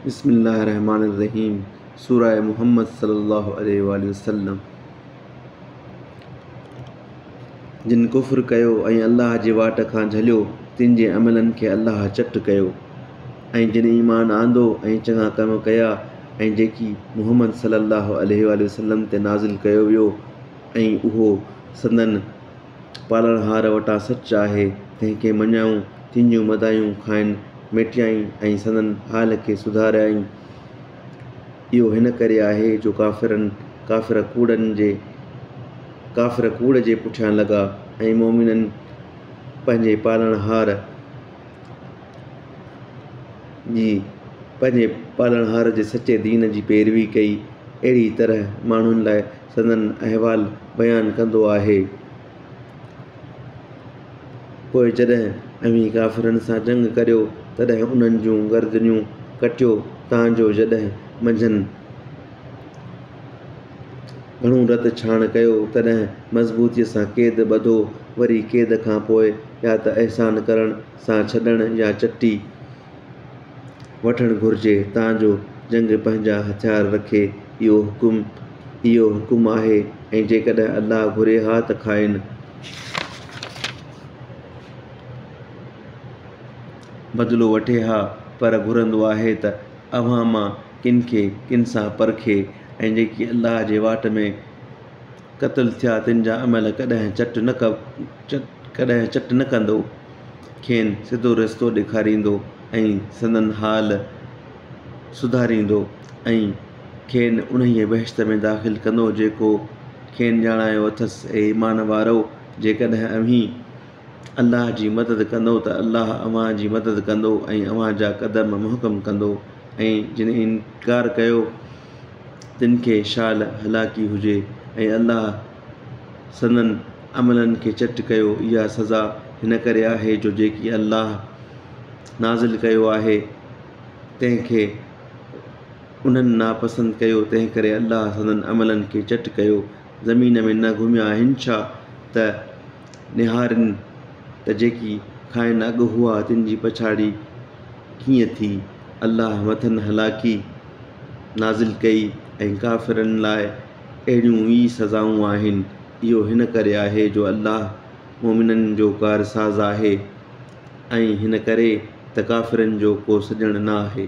بسم الله الرحمٰن الرحيم سورة محمد صلي الله عليه واٰله وسلم جن ڪفر ڪيو ۽ الله جي واٽ کان جهليو تن جي عملن کي الله چٽ ڪيو ۽ جن ايمان آندو ۽ چڱا ڪم ڪيا ۽ جيڪي محمد صلي الله عليه واٰله وسلم تي نازل ڪيو ويو ۽ اهو سندن پالڻهار وٽان سچ آهي، تنهن کي مڃايون، تنهنجون مدايون کانئن ميٽيائين ۽ سندن حال کي سڌاريائين. اهو هن ڪري آهي جو ڪافرن، ڪافر ڪوڙن جي، ڪافر ڪوڙ جي پٺيان لڳا ۽ مؤمنن پنهنجي پالڻهار جي، پنهنجي پالڻهار جي سچي دين جي پيروي ڪئي. اهڙيء طرح ماڻهن لاء سندن احوال بيان ڪندو آهي. پوء جڏهن اوهين ڪافرن سان جنگ ڪريو، تڏهن انهن جون گردنيون ڪٽيو، تان جو جڏهن منجهن گهڻو رت ڇاڻ ڪيو، تڏهن مضبوطيء سان قيد ٻڌو، وري قيد کان پوء يا ته احسان ڪرڻ سان ڇڏڻ يا چٽي. وٺڻ گهرجي تان جو جنگ پنهنجا هٿيار رکي اهو حڪم اهو حڪم آهي ۽ جيڪڏهن الله گهري ها ته کائن بدلو وٺي ها پر گهرندو آهي ته اوهان مان ڪن کي ڪن سان پرکي ۽ جيڪي الله جي واٽ ۾ قتل ٿيا تن جا عمل ڪڏهن چٽ نه ڪڏهن چٽ نه ڪندو کين سڌو رستو ڏيکاريندو ۽ سندن حال سڌاريندو ۽ کين انهيء بهشت ۾ داخل ڪندو جيڪو کين ڄاڻايو اٿس اي ايمان وارؤ جيڪڏهن اوهين الله جي مدد ڪندو ته الله اوهان جي مدد ڪندو ۽ اوهان جا قدم محڪم ڪندو ۽ جن انڪار ڪيو تن کي شال هلاڪي هجي ۽ الله سندن عملن کي چٽ ڪيو اها سزا هن ڪري آهي جو جيڪي الله نازل ڪيو آهي تنهن کي انهن ناپسند ڪيو تنهنڪري الله سندن عملن کي چٽ ڪيو زمين ۾ نه گهميا آهن ڇا ته نهارين ته جيڪي کانئن اڳ هئا تن جي پڇاڙي ڪيئن ٿي، الله مٿن هلاڪي نازل ڪئي ۽ ڪافرن لاء اهڙيون ئي سزائون آهن، اهو هن ڪري آهي جو الله مؤمنن جو ڪارساز آهي ۽ هن ڪري ته ڪافرن جو ڪو سڄڻ نه آهي.